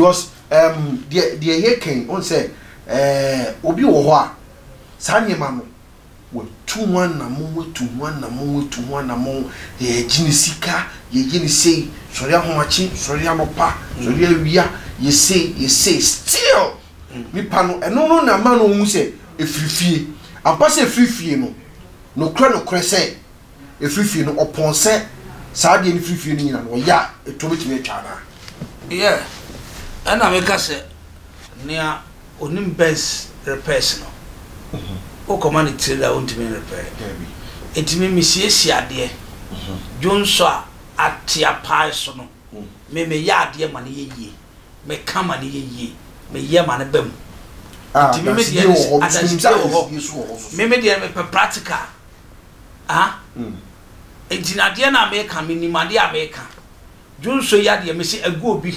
because um, deɛ deɛ yɛ kɛn ɔn sɛ ɛɛ obi wɔ hɔ a saa nneɛma no watu ho anamɔ watu ho anamɔ watu ho anamɔ yɛgye ne sika yɛyɛ ne sei sɔre ahomakye sɔre anɔpa sɔre awia yɛsei yɛsei still nipa no, ɛno no na ɛma no ɔhu sɛ ɛfiri fie. Ampa sɛ ɛfiri fie no, nokorɛ nokorɛ sɛ ɛfiri fie no, ɔpɔn sɛ saa adeɛ no firi fie no nyina no, ɔyɛ a, ɛtoɔ bɛtumi atwa anaa? Yɛ, ɛna meka sɛ, nea ɔnim Benz repairs no, wokɔma no trailer a ɔntumi nrepɛre. Enti me mesiesie adeɛ, dwonsɔ a ateapae so no. Me meyɛ adeɛ ma no yɛ yie, me ka ma no yɛ yie, me yɛ ma no ba mu. Nti me me deɛ ne sɛ adansidie wɔ hɔ, me me deɛ no me pɛ practical. Ah, nti na adeɛ no a me ka, me nim adeɛ a me ka. Dwonso yi adeɛ me se agu obi,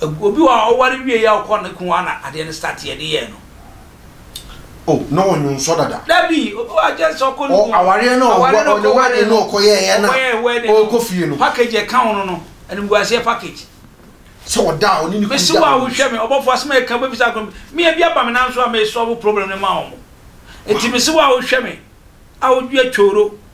obi wɔ hɔ a ɔware wie yɛ a ɔkɔ ne kun hɔ a na adeɛ no start yɛ de yɛɛ no. Oh, na ɔnye wo nsɔ dada. Dabi, obi wɔ adwen sɛ ɔkɔ ne kunu. Oh, awareɛ no a ɔkɔ wedding no. Ɔkɔ wedding no ɔkɔ yɛɛyɛ no a. Ɔkɔ yɛɛ wedding no. Ɔkɔ fie no. Package ɛka ho no no, animguaseɛ package. Sɛ ɔda a, ɔne ne kunu da. Mese wo a wohwɛ me, ɔbɔfo asɛm a ɛka wobɛbisa akɔ me. Me ebi aba me nan so a me solve problem no ma wɔn. Enti mese wo a wohwɛ me, a wodua tworo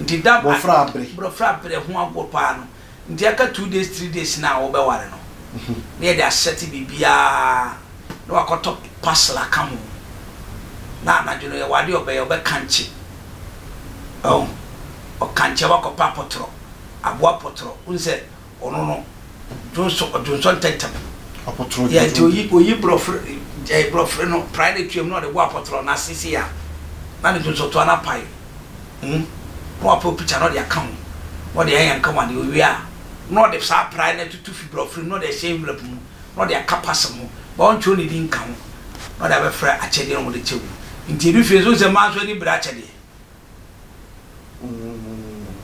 nti da bɔfra bere bɔfra bere ho agorɔ paa no nti aka two days three days no a wobɛware no na yɛde asɛte biribiara na wakɔtɔ parcel aka ho na anadwo no yɛwɔ adeɛ ɔbɛyɛ ɔbɛkankye ɔkankye wakɔpɛ apɔtorɔ aboa pɔtorɔ wohu sɛ Ɔno no dwonsɔ ɔdwonsɔ ntɛntɛm. Apɔtorɔ dwonsɔ ntɛntɛm. Yɛ nti oyi oyi brɔfere ɛɛ brɔfere no praeɛ no tuam na ɔde bɔ apɔtorɔ na ase sei a na ne dwonsɔ toa no apae ho na wapɛ opikya na ɔde aka ho na ɔde ayɛ nkawane owie a na ɔde saa praeɛ no atutu fi brɔfere mu na ɔde ahyɛ envelope mu na ɔde aka pasem ho but ɔntwerɛ ne din nka ho na ɔde abɛfrɛ akyɛdeɛ na wɔde kyɛ wo nti edu fie nso wohu sɛ mmaa nso ani bere akyɛdeɛ.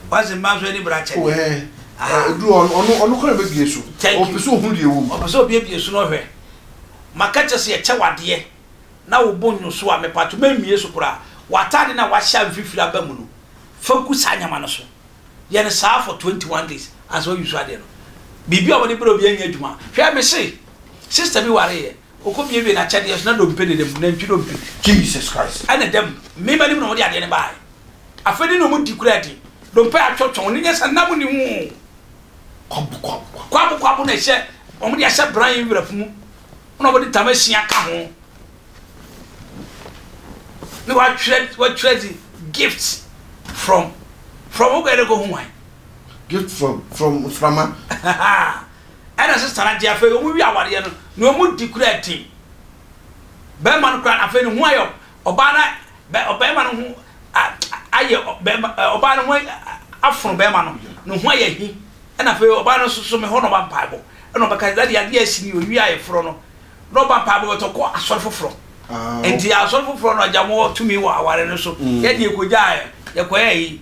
wase mma nso ani bra kyɛde. Ɛɛ ɛduru ɔno ɔno ɔno kora bɛ bie so. Ɔpɛ sɛ ohun deɛ ɛwɔ mu. Ɔpɛ sɛ obie bie so na ɔhwɛ. Maka kyɛ sɛ yɛkyɛ wadeɛ na wo bo nyo so a mepato mɛ mie so koraa. W'ataade na wahyɛ a mfifiri aba mu no fa gu saa nyɛma no so. Yɛ no saa for twenty one days ansa wa use adeɛ no. Biribi a wɔde brɛ obi nyɛ adwuma. Hwɛ mese sister bi wareɛ Okowiawiee n'akyɛdeɛ so na dompe dedam, nantwi dompe. Jesus Christ. Ɛna dam, mmarima anim na wɔde adeɛ no baeɛ. Afei ne na wɔdi kura adi. Dompe atwɔtwɔn, wɔn ani nyɛ sɛ nam nni ho. Kwabo kwabo kwabo. Kwabo kwabo na ɛhyɛ, wɔde ahyɛ bran wrap mu na wɔde ntama asia ka ho. Na wɔatwerɛ, wɔatwerɛ dze gift from, from wokɔyɛ dɛ kɔhu hwan? Gift from, from mframa. ɛna sesara nti afei ɔmo wi awareɛ no na ɔmo di kura din bɛɛma no kura afei ne ho ayɛ ɔbaa na bɛ ɔbɛɛma no ho ayɛ bɛɛma ɔbaa no ho afono bɛɛma no ne ho ayɛ hi ɛna afei ɔbaa no nso so me hɔ na ɔba mpaebɔ ɛna ɔbɛka dade adeɛ asi ni owi ayɛ forɔ no na ɔba mpaebɔ bɛtɔ kɔ asɔre foforɔ nti asɔre foforɔ no agya mo tumi wɔ aware no so yɛ deɛ kɔgya yɛ kɔyɛ yi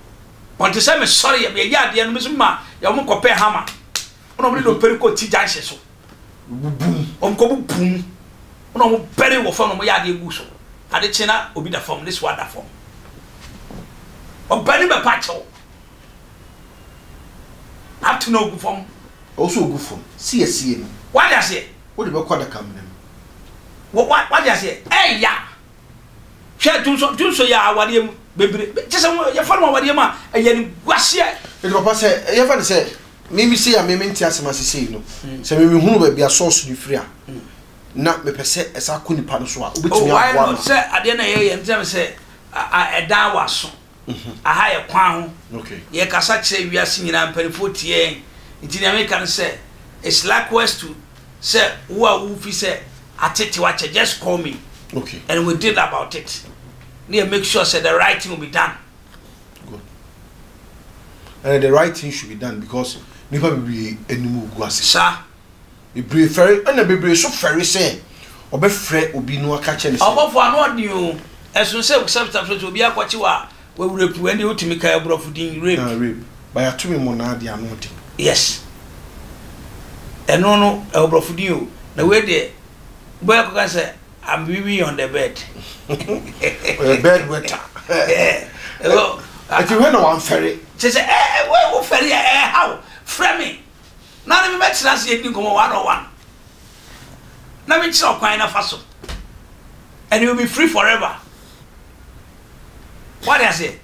Ɔte sɛ me sɔre yɛ yɛyɛ adeɛ no mesu ma yɛ wɔn kɔpɛ hama ɛna wɔn de dɔpɛri kɔ ti gyanhyɛ so bubum wɔn kɔ bubum ɛna wɔn bɛre wɔ fam na wɔn yɛ adeɛ gu so ade kye na obi da fam ne so ada fam ɔbɛni bɛ pa kyɛw ato na ogu fam. Ɔsɔ ogu fam si asie no. Wadi aseɛ. Wode bɛ kɔ adaka mu ne mu. Wadi aseɛ ɛya. Hwɛ dwonsɔ dwonsɔ yi a awadeɛ mu bebree kyɛ sɛ yɛfa no awadeɛ mu a ɛyɛ no guaseɛ. Ɛti papa sɛ yɛfa no sɛ mimi sei a me mente asɛm ase sei no sɛ me mehunu baabi a source no firi a na mepɛ sɛ ɛsa kɔ nipa no so a wobɛtumi aboa no. Oh why not sɛ adeɛ na ɛyɛ yɛ ntɛm sɛ ɛdan wɔ aso. Aha yɛ kwan ho. Yɛkasa kyerɛ wiase nyinaa, mpaninfoɔ tie yɛn. Nti nea meka ne sɛ, it's likewise to sɛ wo a wo fi sɛ atetew akyɛ, just call me and we deal about it na yɛ make sure sɛ the right thing will be done. Good. And the right thing should be done because nipa bebree anim gu ase. Saa. Bebree fɛre, ɛna bebree nso fɛre sɛ wɔbɛfrɛ obi na wɔaka akyerɛ no sɛ. Ɔbɔfo anoɔden o, ɛsono sɛ wosɛpta frɛ sɛ obi akɔkye wo a, w'awura pu wo. Ɛnde wotumi kae aborɔfo din, rape. Ah, rape. By atumi mmonnaa deɛ ano den. Yes. Ɛno no, ɛwɔ borɔfo din o. Na wei deɛ, wobɛyɛ akɔka no sɛ, I'm weaving on the bed. Ɔyɛ bed wetter. Ɛwɔ. Ɛti wei na wamfɛre. Kyerɛ sɛ, ɛɛ, wei wofɛre a, ɛɛha wo. Frɛ me. Na ɔne me bɛtena ase adi nkɔmmɔ one on one, na menkyerɛ ɔkwan na fa so, and you will be free forever. Wate aseɛ?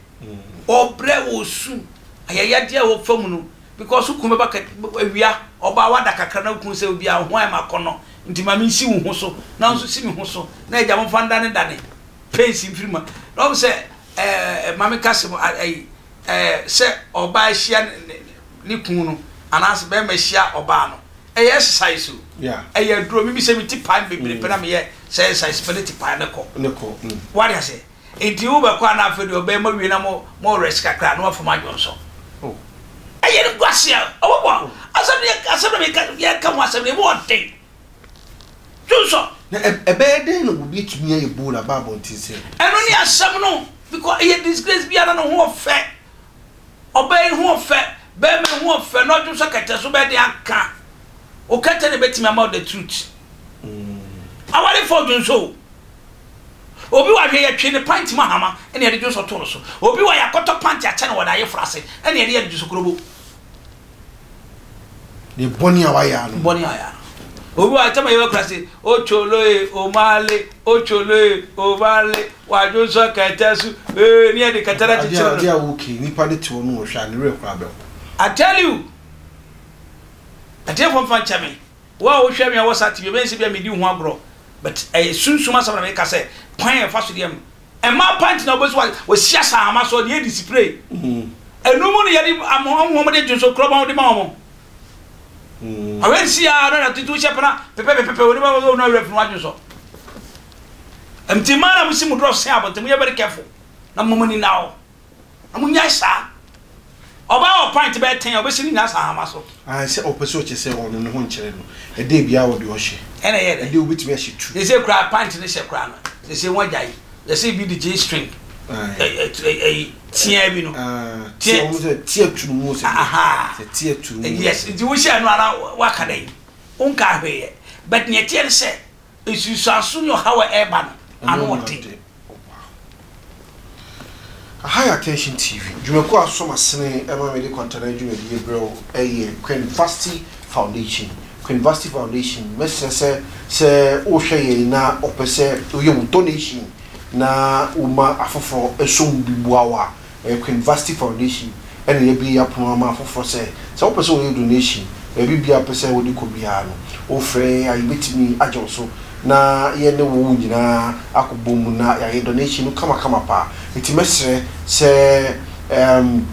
Ɔbrɛ, ɔsu, ayayadeɛ a wɔfa mu no, because wo kunu bɛba ka awia, ɔbaa wada kakra na wo kunu sɛ obi a wo ho ayɛ ma akɔnnɔ, nti ma mensi wo ho so, na wo nso si me ho so, na agya momfa ndanedane pains mfiri mu. Na wɔn sɛ ɛɛ Maame Kasim ayi ɛɛ sɛ ɔbaa ahyia ne ne ne kunu no anaasɛ bɛrima hyia ɔbaa no ɛyɛ exercise o ɛyɛ aduro mimi sɛ meti pan bebree pɛ na mm. meyɛ sɛ exercise pɛ ne ti pan ne kɔ mm. wade ase nti wobɛkɔ a na afei deɛ ɔbɛrima wie na mo mo rest kakra na wafam adwo nso oh. ɛyɛ no guaseɛ ɔbɔbɔ oh. asɛm no asɛm no yɛka ho asɛm no ɛmu ɔden dwonsɔ na ɛbɛyɛ dɛn na obi atumi ayɛ bowl aba abɔnten sɛ ɛno ne asɛm no because ɛyɛ disgrace biara no ho ɔfɛ Ɔbaa yi ho ɔfɛ, barima yi ho ɔfɛ na ɔdwo sɛ kɛtɛ so bɛde aka. O kɛtɛ na ebetumi ama o the truth. Awarefo dwo nso o. Obi wɔ ahwɛ yɛtwe ne pant mu ahama ɛna yɛde dwo nso to no so. Obi wɔ yɛakɔtɔ pant akyɛ no wɔ n'ayeforo ase ɛna yɛde yɛ no dwosokorobo. Ne bɔne a wayɛ ano. Bɔne a yɛ. Obi wa tama yɛ kura se ocholo e omale ocholo e omale wadwo nso kɛtɛ so ee ne yɛde kɛtɛ na titiri no. Ade a wo kiri nipa de te hɔ no wɔhwɛ a ne werɛ kura bɛho. I tell you atiefoɔ mfa nkyɛ me wo a wohwɛ me a wɔ saa tv ɛbɛyɛ sɛ bia medi wo ho agorɔ but ɛyɛ sunsum asɛm na meka sɛ kwan a yɛfa so deɛ Mmaa panty na wɔbɛsi wɔ wɔsi asɛ ahama so deɛ yɛde spray ɛnu mu no yɛde ama wɔn wɔn de dwo so korɔba wɔn de ma wɔn ɔwɛ nsi a ɔno na tuntun hyɛ pana pɛpɛpɛpɛ wɔn bɛ wɔn na ɔwɛ funu adwo so ɛmti mmaa na mo si mo dɔrɔ sɛn abɔnten mo yɛ very careful na mo mo ni na o. Na mo nyae saa. Ɔbaa wɔ pint bɛyɛ ten a ɔbɛsi ne nyinaa saa ahama so. Ae sɛ ɔpɛ sɛ ɔkyɛ sɛ ɔno ne ho nkyerɛ no. Ɛdɛɛ biara wɔ deɛ ɔhyɛ. Ɛna ɛyɛ dɛn? Ɛdɛɛ wobɛtumi ahyɛ tu. Seesei koraa pint ne hyɛ koraa no seesei wɔn agyae. Yɛse bi de G string ɛyi teaa bi no. Teaa wɔn sɛ teaa tu no mu sɛ deɛ. Sɛ teaa tu no mu. Yes nti wohyɛɛ no ara waka dɛn? Wonkaa hwee yɛ. But neɛ ɛteɛ ne sɛ Nsunsuanso ne ɔhaw a ɛreba no, ano yɛ den. High Attention TV dwumakuo a som asene ma mede kwantanan dwumadi yi brɛ wo yɛ Queen Vasti Foundation. Queen Vasti Foundation, mɛsrɛ sɛ sɛ wohwɛ yɛn na wopɛ sɛ woyɛ wo donation na woma afoforɔ som bi boa wo a, Ɛyɛ Queen Vashti Foundation na yɛabue yi apono ama afoforɔ sɛ, sɛ wopɛ sɛ woyɛ donation, baabi biara wopɛ sɛ wode kɔ biara no, wofrɛ yɛn a yɛbɛtumi agye wo so na yɛne wo nyinaa akɔbɔ mu na yɛayɛ donation no kamakama paa. Enti mɛsrɛ sɛ erm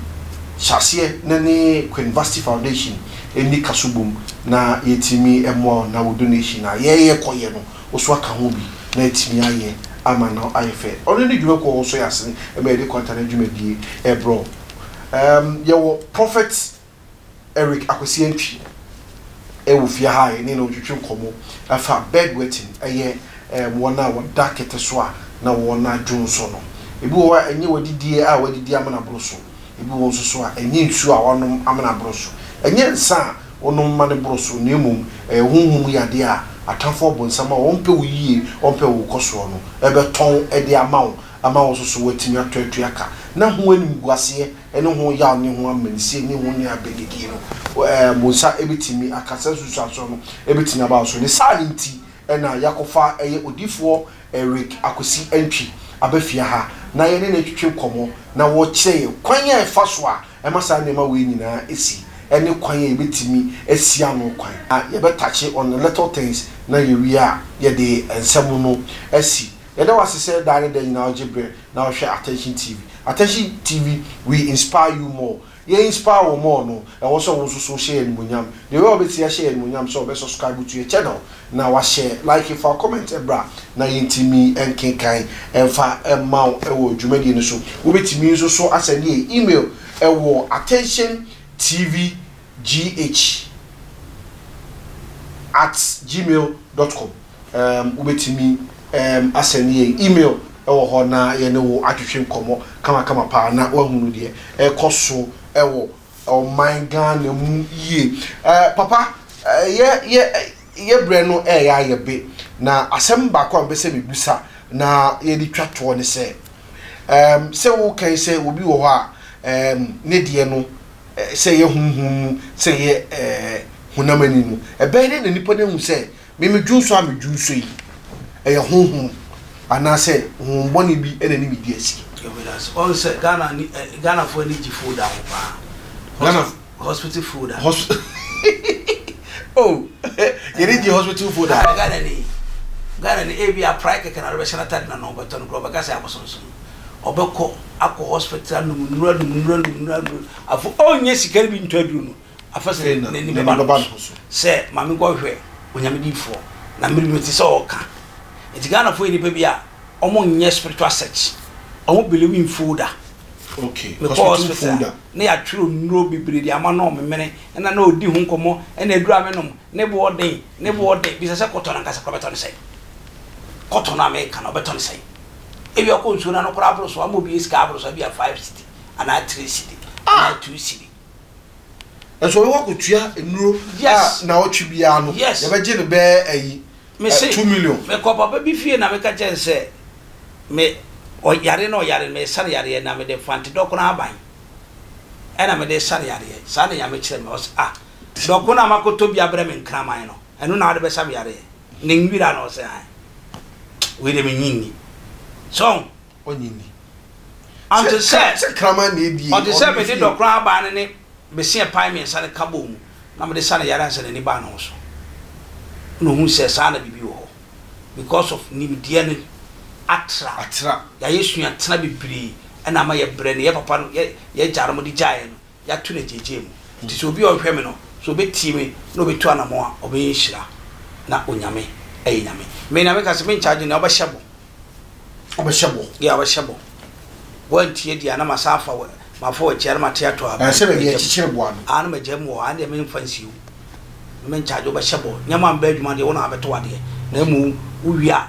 hyɛ aseɛ na ne Queen Vashti Foundation nni kaso bom na yɛatumi mmoa wo na wo donation a yɛrekɔ yɛ no, Wo nso aka ho bi na atumi ayɛ ama no ayɛ fɛ. Ɔno ne dwuma kuo a wɔsɔ yɛn asene ma yɛde kwantanan dwumadie brɛ wo. Erm yɛwɔ Prophet Eric Akwasi Antwi wɔ fie ha a yɛne no retwetwe nkɔmmɔ afa bedwetting, ɛyɛ erm wɔn a wɔda kɛtɛ so a na wɔn adwene sɔ no. Ebi wɔ hɔ a ɛnyɛ w'adidie a w'adidi amena boro so. Ebi wɔ nso so a, ɛnyɛ nsuo a wɔanom ama no aboro so. Ɛnyɛ nsã a wonom ma no boro so, na mmom ɛyɛ honhom mu yadeɛ a atamfo ɔbonsam a ɔmpɛ wo yie, ɔmpɛ wo nkɔsoɔ no rebɛtɔn de ama wo ama wo nso so woatumi atɔ atua ka. Na ho animguaseɛ ne ho yaw ne ho amanisie ne ho nuabeanidie no, wo nsa bɛtumi aka saa nsunsuansoɔ no bɛtumi aba wo so. Ne saa no nti na yɛakɔfa ɛyɛ odiyifoɔ Eric Akwasi Antwi aba fie ha na yɛne no retwetwe nkɔmmɔ na ɔrekyerɛ yɛn kwan a ɛfa so a ɛma saa nneɛma wei nyinaa si ne kwan a yɛbɛtumi asi ano kwan. Na yɛbɛtakye on the little things na yɛwie a yɛde nsɛm no asi. Yɛda wo ase sɛ daa ne da nyinaa wogye berɛ na wohwɛ Attention TV. Attention TV, we inspire you more. Yɛ inspire wo more no ɛwɔ sɛ wo nso so hyɛ yɛ animuonyam deɛ ɔbɛyɛ a ɔbɛtie ahyɛ yɛ animuonyam sɛ ɔbɛ subscribe to yɛ channel na wa share like fa comment bra na yɛ ntimi nkenkan mfa mma wo ɛwɔ dwumadie no so wo bɛ timi nso so asɛnde yɛ email ɛwɔ attention tv gh at gmail dot com. Um, wobɛtumi um, asɛne yɛn email wɔ hɔ na yɛne wo atwetwe nkɔmmɔ kamakama paa na woahunu deɛ ɛkɔ so wɔ ɔman Ghana mu yie. Uh, papa, uh, yɛ, yɛ, yɛ berɛ no ɛyɛ ayɛ be, na asɛm baako a mbɛsɛ mebusa na yɛde twa toɔ ne sɛ, um, sɛ wokan sɛ obi wɔ hɔ a um, ne deɛ no sɛ yɛ honhom mu sɛ yɛ uh, honam ani no, ɛbɛyɛ dɛ na nipa no ahu sɛ Me medwonsɔ a medwonsɔ yi, ɛyɛ honhom anaasɛ honhom bɔne bi na ɛne me di asi? Ewidase, ɔn sɛ Ghana ani ɛ Ghana foɔ ani gye food a ho paa. Ghana f Hospital food a. Hosp oh yɛn ani gye hospital food a. Aane Ghana ni, Ghana ni ebi a prae kɛkɛ na ɔde bɛhyɛ n'atade na na ɔbɛtɔ no koraa ɔbɛka sɛ abosonsom. Ɔbɛkɔ akɔ hospital anom nnuro anom nnuro anom nnuro anom afo ɔnyɛ sika no bi ntɔ aduro no Afei sɛ n'ani bɛba ne ho so sɛ ma menkɔhwehwɛ Onyame difoɔ na mede mete sɛ ɔɔka. Nti Ghanafoɔ yɛ nnipa bi a ɔmo nyɛ spiritual search, ɔmo believe in folder. Mekɔɔ hospital a na yɛatwerɛ nnuro bebree de ama no a ɔmemene na na ɔdi ho nkɔmmɔ ɛna aduro a menom ne boɔ den ne boɔ den. Bisa sɛ cotton ankasa koraa bɛtɔ ne sɛn? Cotton a meka no ɔbɛtɔ ne sɛn? Ebia ɔkɔ nsuo no ano koraa aboro so ama obi sika aboro so ebia five cedi anaa three cedi anaa two cedi. Nso ɔbɛkɔ akɔtua nnuro a naawɔtwe biara no yɛbɛgye no bɛɛ ayi two million. Mekɔ papa bi fie na meka kyerɛ no sɛ me ɔyare na ɔyare no mesa no yareɛ na mede fante dɔkono ahaban ɛna mede sa no yareɛ saa na Nyame kyerɛ me ɔse ah dɔkono a makɔtɔ bi abrɛ me nkraman no ɛno na wode bɛsa me yareɛ ne nwira no ɔse ae wei deɛ menye nni sɛ ɔho. ɔnye nni. Ante sɛ ɔte sɛ mede dɔkora abaa no ne beseɛ pae mmiɛnsa no ka bɔɔ mu na mede sa no yare ansa n'ani baa ne ho so. Ɛna ɔhuu sɛ saa na biribi wɔ hɔ because of nimdeɛ no atra. Yɛayɛ suatena bebree ɛna ama yɛbrɛ no. Yɛ papa no, yɛ yɛagya nom de gyaeɛ no, yɛato no agyaagyaa mu. Nti sɛ obi a ɔhwɛ me no, sɛ ɔbɛtie me na ɔbɛtu anamɔn a, ɔbɛyɛ nhyira, na Onyame yɛ Nyame. Me na meka sɛ, menkyagye nea ɔbɛhyɛ bɔ. Ɔbɛhyɛ bɔ. Yeah, ɔbɛhyɛ bɔ. Woantie deɛ a, na masan afa wo, mafa w'akyi a, na mate ato a, Ɛsɛ baabi a magya mu. ɛkyekyere boa no. Ah, na magya mu hɔ, ah deɛ memfa nsie wo. Me menkyagye, wobɛhyɛ bɔ. Nneɛma a mebɛyɛ adwuma deɛ, wo na wabɛto wo adeɛ. Na mmom, wowie a,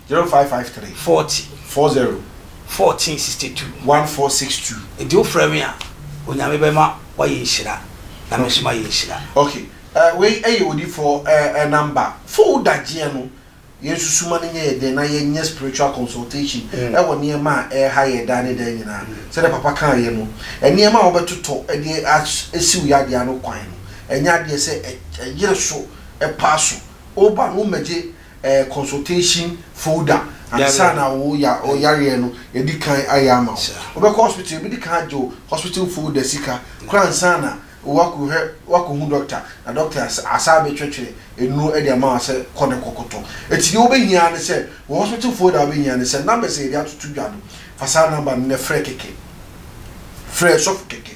Zero five five three. Forty. Four zero. Fourteen sixty two. One four six two. Nti wo frɛ me a onyame bɛ ma wa yɛ nhyira na me nso ma yɛ nhyira. Ok eh wei ɛyɛ odifoɔ eh eh number fo wo dagyeɛ no yɛn nso suma no nyɛ yɛ dɛ na yɛ nyɛ spiritual consultation ɛwɔ nneɛma a ɛha yɛ daa ne daa nyinaa sɛdeɛ papa kaa yɛ no nneɛma a wo bɛ totɔ ɛde asi wo yadeɛ ano kwan no ɛnyɛ adeɛ sɛ ɛyere so ɛpa so wo ba no wo mmɛgye eh, consultation folder ansa na wo ya o yareɛ no yɛdi kan ayɛ ama wo Sure. wobɛkɔ hospital yɛbɛdi kan agye wo hospital folder sika kora ansa na woakɔhwɛ woakɔhu doctor na doctor as- asan abɛtwɛtwɛ nnuro de ama wo sɛ kɔ na kɔkɔtɔ enti deɛ wobɛhia ara ne sɛ wo hospital folder a wobɛhia ne sɛ numbers a yɛde atoto dwa no fa saa number no na frɛ kɛkɛ frɛ sɔfo kɛkɛ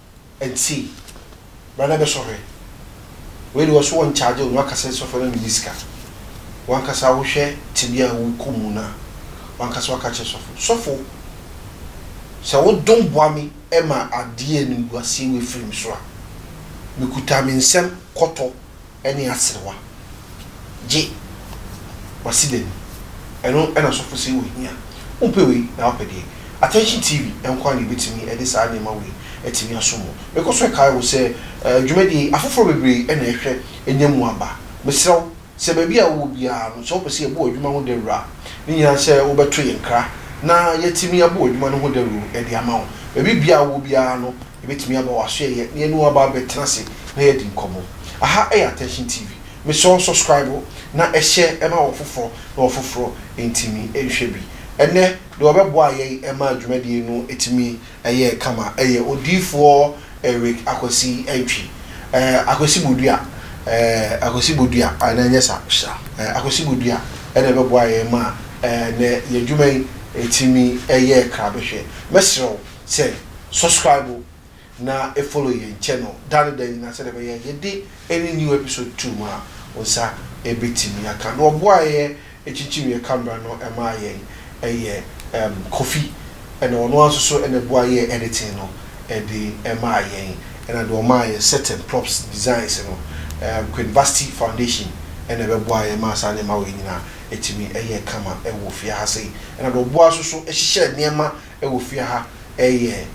Nti bra na bɛsɔ hwɛ. Wei de wɔso wɔn charge wo na waka sɛ sɔfo no na medi sika. Wankasa wohwɛ tebea a wokɔ mu no a wankasa waka kyerɛ sɔfo. Sɔfo sɛ wo dom boa me ma adeɛ animguaseɛ wei firi me so a, mekuta me nsam kɔtɔ ne aserewa, gye w'asedan mu, ɛno na ɔsɔfo se ohia. Wompɛ wei na woapɛ deɛ? Attention TV nko ara na ebetumi de saa nneɛma wei atumi asom wo. Mekɔ so kae wo sɛ dwumadie yi, afoforɔ bebree na ɛhwɛ nya mu aba. Mesrɛ wo, sɛ baabi a wowɔ biara no, sɛ wopɛ sɛ yɛbɔ w'adwuma ho dawuro a, ne nyinaa sɛ wobɛto yɛn kra na yɛatumi abɔ w'adwuma no ho dawuro de ama wo. Baabi biara a wowɔ biara no, Ebetumi ama w'asoɛeɛ na yɛne wo aba abɛtena ase na yɛadi nkɔmmɔ. Aha yɛ Attention TV. Mesrɛ wo subscribe na hyɛ ma wɔ foforɔ na wɔ foforɔ ntumi nhwɛ bi. Ɛnnɛ deɛ ɔbɛboa yɛn maa dwumadie no tumi yɛɛ kama yɛ Odiyifoɔ Eric Akwasi Antwi. Ɛɛ Akwasi Bodua ɛɛ Akwasi Bodua anaa ɛnyɛ saa? Sure. Ɛɛ Akwasi Bodua na ɛbɛboa yɛn maa ɛɛ nnɛ yɛn dwuma yi tumi yɛɛ krabɛhwɛ. Mɛsrɛ wo. sɛ subscribe na follow yɛn channel da ne da nyinaa sɛdeɛ ɛbɛyɛ yɛde any new episode to mu a wo nsa bɛtumi aka. Na ɔboa a yɛ kyinkyim yɛ camera no ma yɛn yɛ ɛm Kofi na ɔno ara nso so na ɛboa yɛ editing no de ma yɛn ɛna deɛ ɔmaa yɛ set and props designs no ɛm Queen Vasti Foundation na ɛbɛboa yɛ maa saa nneɛma wei nyinaa tumi yɛ kama wɔ fie ha sei. Ɛna deɛ ɔboa nso so hyehyɛ nneɛma Wɔ fie ha yɛ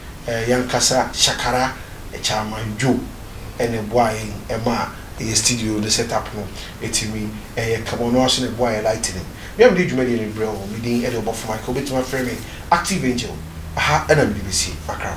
yankasa shakara chairman Joe na ɛboa yɛn ma yɛ studio no set up no ɛtumi yɛ kama ɔno ara nso na ɛboa yɛ lightening me a mede dwumadie no brɛ wo me din de ɔbɔfo Michael wobɛtumi afrɛ me active angel ɛha na mede bɛsi makra.